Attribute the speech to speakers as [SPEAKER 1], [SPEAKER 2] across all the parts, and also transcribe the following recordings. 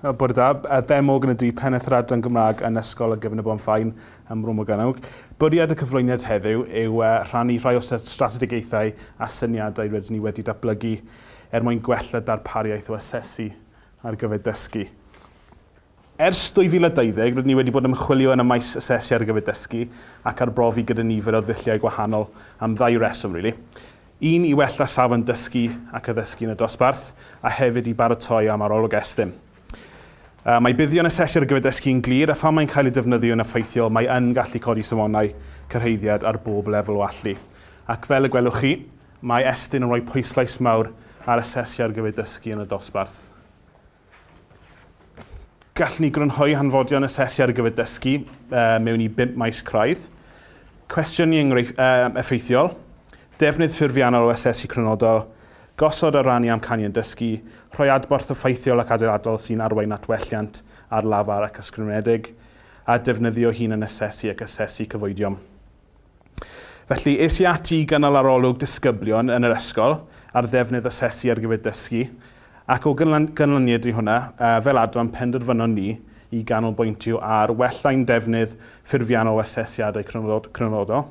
[SPEAKER 1] Okay. Bore da, uh, Ben Morgan ydw i, pennaeth yr adran Gymraeg yn Ysgol y Gyfnod Bon Fain ym Mro Morgannwg. Bwriad y cyflwyniad heddiw yw uh, rhannu rhai o strategaethau a syniadau rydyn ni wedi datblygu er mwyn gwella darpariaeth o asesu ar gyfer dysgu. Ers 2020, rydyn ni wedi bod yn ymchwilio yn y maes asesu ar gyfer dysgu ac arbrofi gyda nifer o ddulliau gwahanol am ddau reswm, rili. Un, i wella safon dysgu ac addysgu yn y dosbarth, a hefyd i baratoi am arolwg Estyn. Mae buddion asesu ar gyfer dysgu yn glir, a phan mae'n cael ei defnyddio yn effeithiol, mae yn gallu codi safonau cyrhaeddiad ar bob lefel o allu. Ac fel y gwelwch chi, mae Estyn yn rhoi pwyslais mawr ar asesu ar gyfer dysgu yn y dosbarth. Gallwn ni grynhoi hanfodion asesu ar gyfer dysgu mewn i bump maes craidd. Cwestiwn i enghreifft effeithiol, defnydd ffurfiannol o asesu crynodol, gosod a rannu amcanion dysgu, rhoi adborth effeithiol ac adeiladol sy'n arwain at welliant ar lafar ac ysgrifenedig, a defnyddio hunan-asesu ac asesu cyfoedion. Felly, es i ati i gynnal arolwg disgyblion yn yr ysgol ar ddefnydd asesu ar gyfer dysgu, ac o ganlyniad i hwnna, fel adran penderfynon ni i ganolbwyntio ar wella ein defnydd ffurfiannol o asesiadau crynodol,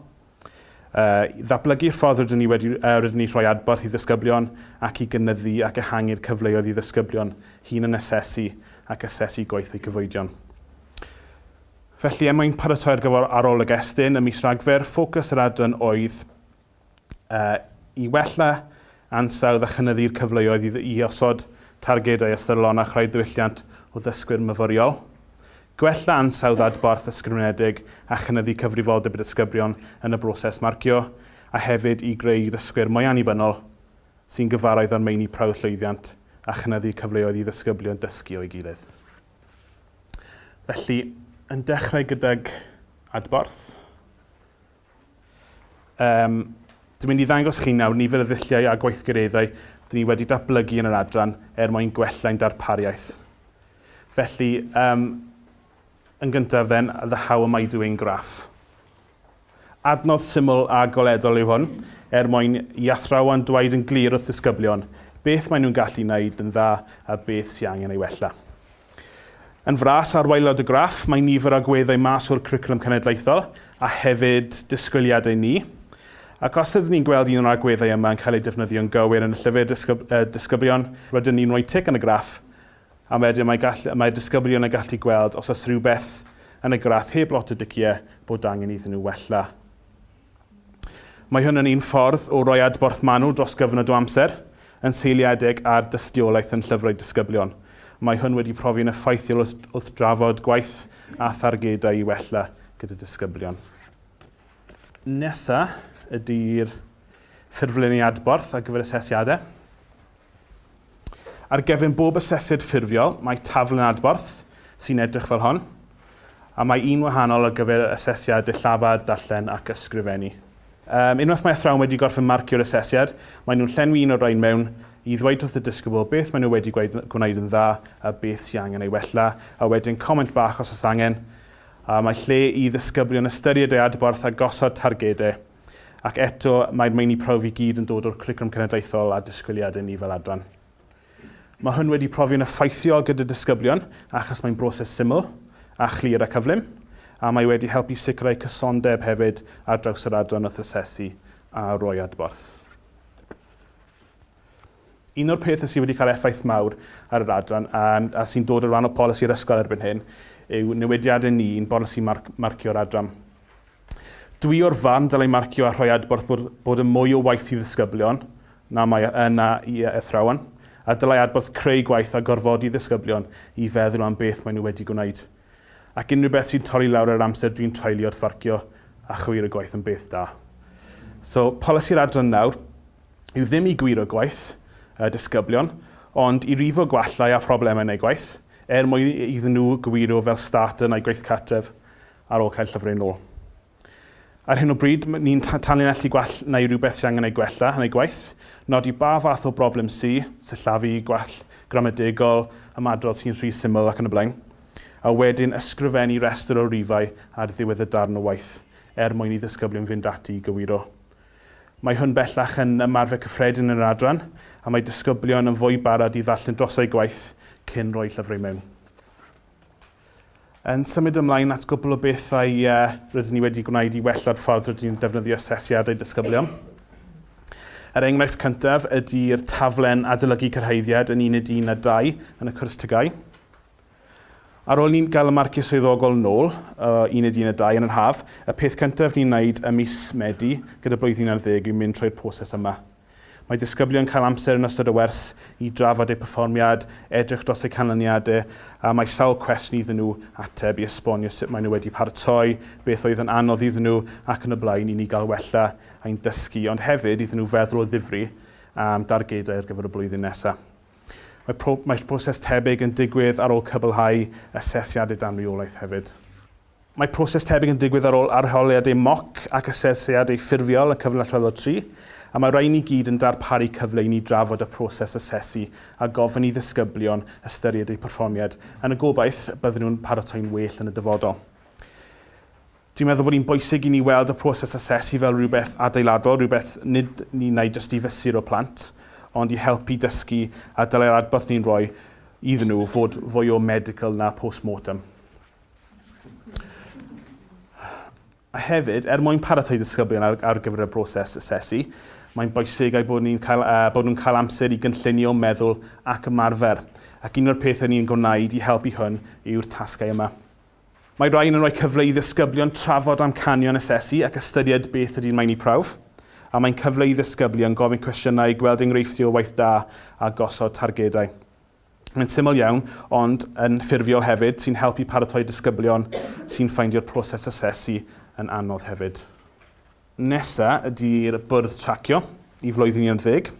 [SPEAKER 1] i ddatblygu'r ffordd rydyn ni wedi rydyn ni rhoi adborth i ddisgyblion ac i gynyddu ac ehangu'r cyfleoedd i ddisgyblion hunan-asesu ac asesu gweithlu cyfoedion. Felly, er mwyn paratoi ar gyfer Arolwg Estyn ym mis Rhagfyr, ffocws yr adran oedd i wella ansawdd a chynyddu'r cyfleoedd i osod targedau ystyrlon a chreu diwylliant o ddysgwyr myfyriol, gwella ansawdd adborth ysgrifenedig a chynyddu cyfrifoldeb y disgyblion yn y broses marcio, a hefyd i greu dysgwyr mwy annibynnol sy'n gyfarwydd â'r meini prawf llwyddiant a chynyddu cyfleoedd i ddisgyblion dysgu o'i gilydd. Felly, yn dechrau gydag adborth. Um, dwi'n mynd i ddangos chi nawr nifer y ddulliau a gweithgareddau dyn ni wedi datblygu yn yr adran er mwyn gwella'n darpariaeth. Felly, um, yn gyntaf then, the how am I doing graph. Adnodd syml a goledol yw hwn, er mwyn i athrawon dweud yn glir wrth ddisgyblion beth maen nhw'n gallu wneud yn dda a beth sydd angen ei wella. Yn fras ar waelod y graff mae nifer agweddau mas o'r Cwricwlwm Cenedlaethol a hefyd disgwyliadau ni, ac os ydyn ni'n gweld un o'r agweddau yma yn cael ei defnyddio'n gywir yn y llyfr dysgu, uh, disgyblion, rydyn ni'n rhoi tic yn y graff A wedyn mae gall- mae'r disgyblion yn gallu gweld os oes rhywbeth yn y graff heb lot o diciau bod angen iddyn nhw wella. Mae hwn yn un ffordd o roi adborth manwl dros gyfnod o amser, yn seiliedig ar dystiolaeth yn llyfrau disgyblion. Mae hwn wedi profi'n effeithiol wrth, wrth drafod gwaith a thargedau i wella gyda disgyblion. Nesa ydy'r ffurflenni adborth ar gyfer asesiadau. Ar gefn bob asesydd ffurfio mae taflen adborth sy'n edrych fel hon, a mae un wahanol ar gyfer asesiad dillafar, darllen ac ysgrifennu. Unwaith mae athrawon wedi gorffen marcio'r asesiad, maen nhw'n llenwi un o'r rhain mewn i ddweud wrth y disgybl beth maen nhw wedi gwneud yn dda a beth sy'n angen ei wella, a wedyn comment bach os oes angen, a mae lle i ddisgyblion ystyried eu adborth a gosod targedau. Ac eto, mae'r meini prawf i gyd yn dod o'r Cwricwlwm Cenedlaethol a disgwyliadau ni fel adran. Mae hwn wedi profi'n effeithiol gyda disgyblion achos mae'n broses syml, a chlir a cyflym, a mae wedi helpu sicrhau cysondeb hefyd ar draws yr adran wrth asesu a rhoi adborth. Un o'r pethau sydd wedi cael effaith mawr ar yr adran, a sy'n dod o ran o polisi'r ysgol erbyn hyn, yw newidiadau ni i'n bolisi marcio yr adran. Dwi o'r farn dylai marcio a rhoi adborth bod yn mwy o waith i ddisgyblion na mae yna i athrawon, a dylai adborth creu gwaith a gorfodi ddisgyblion i feddwl am beth maen nhw wedi gwneud. Ac unrhyw beth sy'n torri lawr yr amser dwi'n treulio wrth farcio a chywiro gwaith yn beth da. So, polisi'r adran nawr. yw ddim i gywiro gwaith y disgyblion, ond i rifo gwallau a phroblemau yn eu gwaith, er mwyn iddyn nhw gywiro fel start yn eu gwaith cartref ar ôl cael llyfrau yn ôl. Ar hyn o bryd, ni'n tanlinellu gwall neu rhywbeth sy'n angen ei gwella yn eu gwaith, nodi ba fath o broblem sy, sillafu, gwall gramadegol, ymadrodd sy'n rhy syml ac yn y blaen, a wedyn ysgrifennu rhestr o rifau ar ddiwedd y darn o waith, er mwyn i ddisgyblion fynd ati i gywiro Mae hwn bellach yn ymarfer cyffredin yn yr adran a mae disgyblion yn fwy barod i ddarllen dros eu gwaith cyn rhoi llyfrau mewn. Yn symud ymlaen at gwpl o bethau rydyn ni wedi gwneud i wella'r ffordd rydyn ni'n defnyddio asesiadau disgyblion. Yr enghraifft cyntaf ydy'r taflen adolygu cyrhaeddiad yn uned un a dau yn y cwrs TGAU. Ar ôl i ni gael y marciau swyddogol nôl o Uned Un a Dau yn yr haf, y peth cyntaf ni'n wneud ym mis Medi gyda blwyddyn ar ddeg yw mynd trwy'r proses yma. Mae disgyblion cael amser yn ystod y wers i drafod eu perfformiad, edrych dros eu canlyniadau a mae sawl cwestiwn iddyn nhw ateb i esbonio sut maen nhw wedi paratoi, beth oedd yn anodd iddyn nhw ac yn y blaen i ni gael wella ein dysgu ond hefyd iddyn nhw feddwl o ddifri am dargedau ar gyfer y blwyddyn nesaf. Mae proses tebyg yn digwydd ar ôl cwblhau asesiad edamniolaeth hefyd. Mae proses tebyg yn digwydd ar ôl arholiadau moc ac asesiadau ffurfiol y cyfnod allweddol tri, a mae'r rhain i gyd yn darparu cyfle i ni drafod y proses asesu a gofyn i ddisgyblion ystyried eu perfformiad, yn y gobaith y bydden nhw'n paratoi'n well yn y dyfodol. Dwi'n meddwl bod hi'n bwysig i ni weld y proses asesu fel rhywbeth adeiladol, rhywbeth nid yn un ai jyst i fesuro plant, ond i helpu i dysgu a dylai'r adborth ni'n rhoi iddyn nhw fod fwy o medical na post-mortem. A hefyd, er mwyn paratoi disgyblion ar, ar gyfer y broses asesu, mae'n bwysig eu bod, ni'n cael, uh, bod nhw'n cael amser i gynllunio, meddwl ac ymarfer. Ac un o'r pethau ni'n gwneud i helpu hwn yw'r tasgau yma. Mae rhain yn rhoi cyfle i ddisgyblion trafod amcanion asesu ac ystyried beth ydy'n meini prawf, a mae'n cyfle i ddisgyblion gofyn cwestiynau, gweld enghreifftiau o waith da a gosod targedau. Mae'n syml iawn, ond yn ffurfiol hefyd, sy'n helpu paratoi disgyblion sy'n ffeindio'r proses asesu yn anodd hefyd. Nesa ydy'r bwrdd tracio i flwyddyn 11.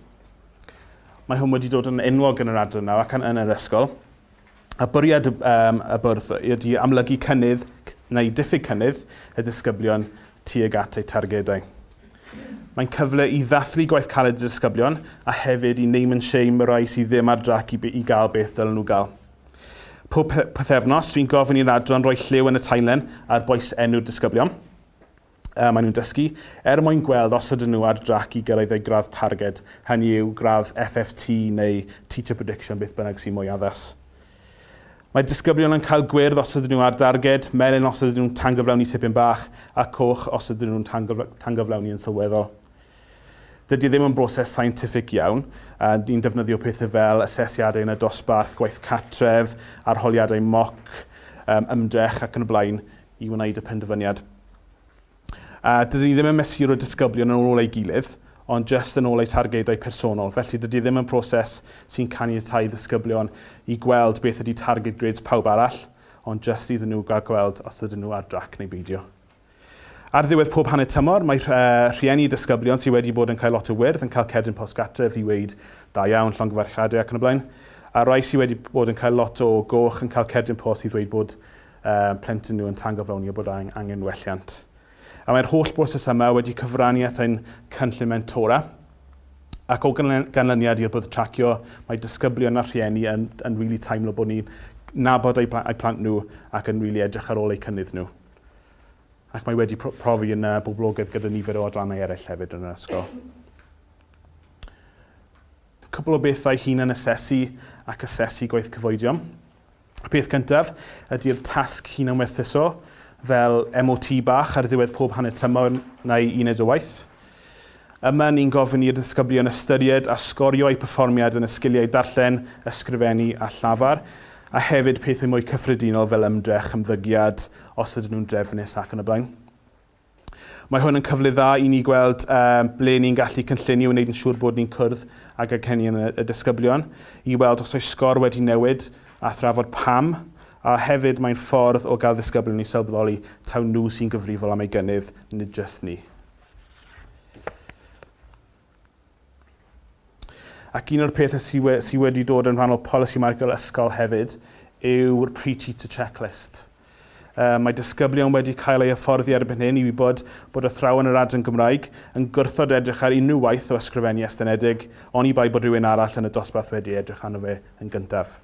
[SPEAKER 1] Mae hwn wedi dod yn enwog yn yr adran nawr ac yn yr ysgol. A bwriad y, um, y bwrdd ydy amlygu cynnydd neu diffyg cynnydd y disgyblion tuag at eu targedau. Mae'n cyfle i ddathlu gwaith caled y disgyblion a hefyd i name and shame y rai sydd ddim ar drac i, i gael beth dylen nhw gael. Pob pethefnos, dwi'n gofyn i'r adran roi lliw yn y tainlen ar boes enw'r disgyblion. y maen nhw'n dysgu, er mwyn gweld os ydyn nhw ar drac i gyrraedd eu gradd targed, hynny yw, gradd FFT neu Teacher Prediction, beth bynnag sy'n mwy addas. Mae disgyblion yn cael gwyrdd os ydyn nhw ar darged, melyn os ydyn nhw'n tangyflawni tipyn bach, a coch os ydyn nhw'n tangyflawni yn sylweddol. Dydy e ddim yn broses scientific iawn, a ni'n defnyddio pethau fel asesiadau yn y dosbarth, gwaith cartref, arholiadau moc, ymdrech ac yn y blaen i wneud y penderfyniad. A dydyn ni ddim yn mesur y disgyblion yn ôl ei gilydd, ond jyst yn ôl eu targedau personol. Felly dydy e ddim yn proses sy'n caniatáu ddisgyblion i gweld beth ydy targed grades pawb arall, ond jyst iddyn nhw gael gweld os ydyn nhw ar drac neu beidio. Ar ddiwedd pob hanner tymor, mae rhieni disgyblion sydd wedi bod yn cael lot o wyrdd yn cael cerdyn post gartref i weid da iawn, llongyfarchiadau ac yn y blaen. A rai sydd wedi bod yn cael lot o goch yn cael cerdyn post i ddweud bod â'u plentyn nhw yn tangyflawni eu bod angen gwelliant. A mae'r holl broses yma wedi cyfrannu at ein cynllun mentora, ac o ganlyniad i'r bwrdd tracio, mae disgyblion a rhieni yn yn rili teimlo bod ni'n nabod eu eu plant nhw ac yn rili edrych ar ôl eu cynnydd nhw. Ac mae wedi profi yn y boblogaeth gyda nifer o adrannau eraill hefyd yn yr ysgol. Cwpl o bethau hunan-asesu ac asesu gwaith cyfoedion. Y peth cyntaf ydy'r tasg hunanwerthuso, fel MOT bach ar ddiwedd pob hanner tymor neu uned o waith. Yma ni'n gofyn i'r disgyblion ystyried a sgorio eu perfformiad yn y sgiliau darllen, ysgrifennu a llafar, a hefyd pethau mwy cyffredinol fel ymdrech, ymddygiad, os ydyn nhw'n drefnus ac yn y blaen. Mae hwn yn cyfle dda i ni gweld ble ni'n gallu cynllunio i wneud yn siŵr bod ni'n cwrdd ag anghenion y disgyblion, i weld os oes sgôr wedi newid a thrafod pam, a hefyd mae'n ffordd o gael ddisgyblion i sylweddoli taw nhw sy'n gyfrifol am eu gynnydd, nid jyst ni. Ac un o'r pethau sydd we, sy wedi dod yn rhan o polisi Michael Ysgol hefyd yw'r pre-teacher checklist. Uh, mae disgyblion wedi cael ei hyfforddi erbyn hyn i wybod bod athrawon yr adran Gymraeg yn gwrthod edrych ar unrhyw waith o ysgrifennu estynedig, oni bai bod rhywun arall yn y dosbarth wedi edrych arno fe yn gyntaf.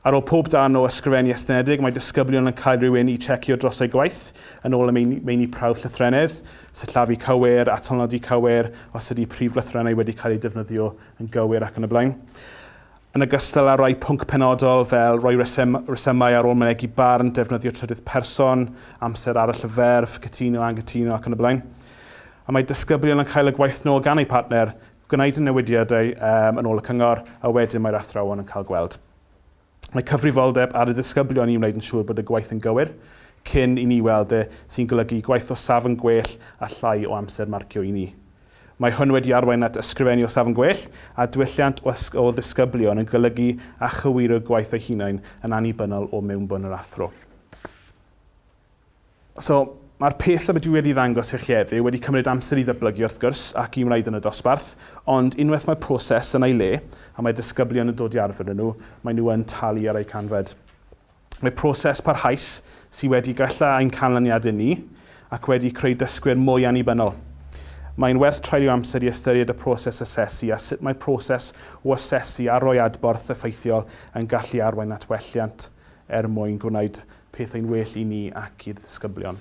[SPEAKER 1] Ar ôl pob darn o ysgrifennu estynedig, mae disgyblion yn cael rhywun i checio dros eu gwaith, yn ôl y meini, meini prawf llythrennedd, sillafu cywir, atalnodi cywir, os ydy prif lythrennau wedi cael eu defnyddio yn gywir ac yn y blaen. Yn ogystal â rhai pwnc penodol fel rhoi resym, resymau ar ôl mynegi barn, defnyddio trydydd person, amser arall y ferf, cytuno, anghytuno ac yn y blaen. A mae disgyblion yn cael y gwaith nôl gan eu partner, Gwnaed y newidiadau yn ôl y cyngor a wedyn mae'r athrawon yn cael gweld. Mae cyfrifoldeb ar y ddisgyblion i wneud yn siŵr bod y gwaith yn gywir cyn i ni weld e, sy'n golygu gwaith o safon gwell a llai o amser marcio i ni. Mae hwn wedi arwain at ysgrifennu o safon gwell a diwylliant o ddisgyblion yn golygu a chywiro gwaith eu hunain yn annibynnol o mewnbwn yr athro. So, mae'r peth yma dwi wedi ddangos i chi heddiw wedi cymryd amser i ddyblygu wrth gwrs ac i wneud yn y dosbarth, ond unwaith mae'r proses yn ei le a mae disgyblion yn dod i arfer â nhw, maen nhw yn talu ar eu canfed. Mae proses parhaus sydd wedi gwella ein canlyniadau ni ac wedi creu dysgwyr mwy annibynnol. Mae'n werth treulio amser i ystyried y proses asesu a sut mae proses o asesu a rhoi adborth effeithiol yn gallu arwain at welliant er mwyn gwneud pethau'n well i ni ac i'r ddisgyblion.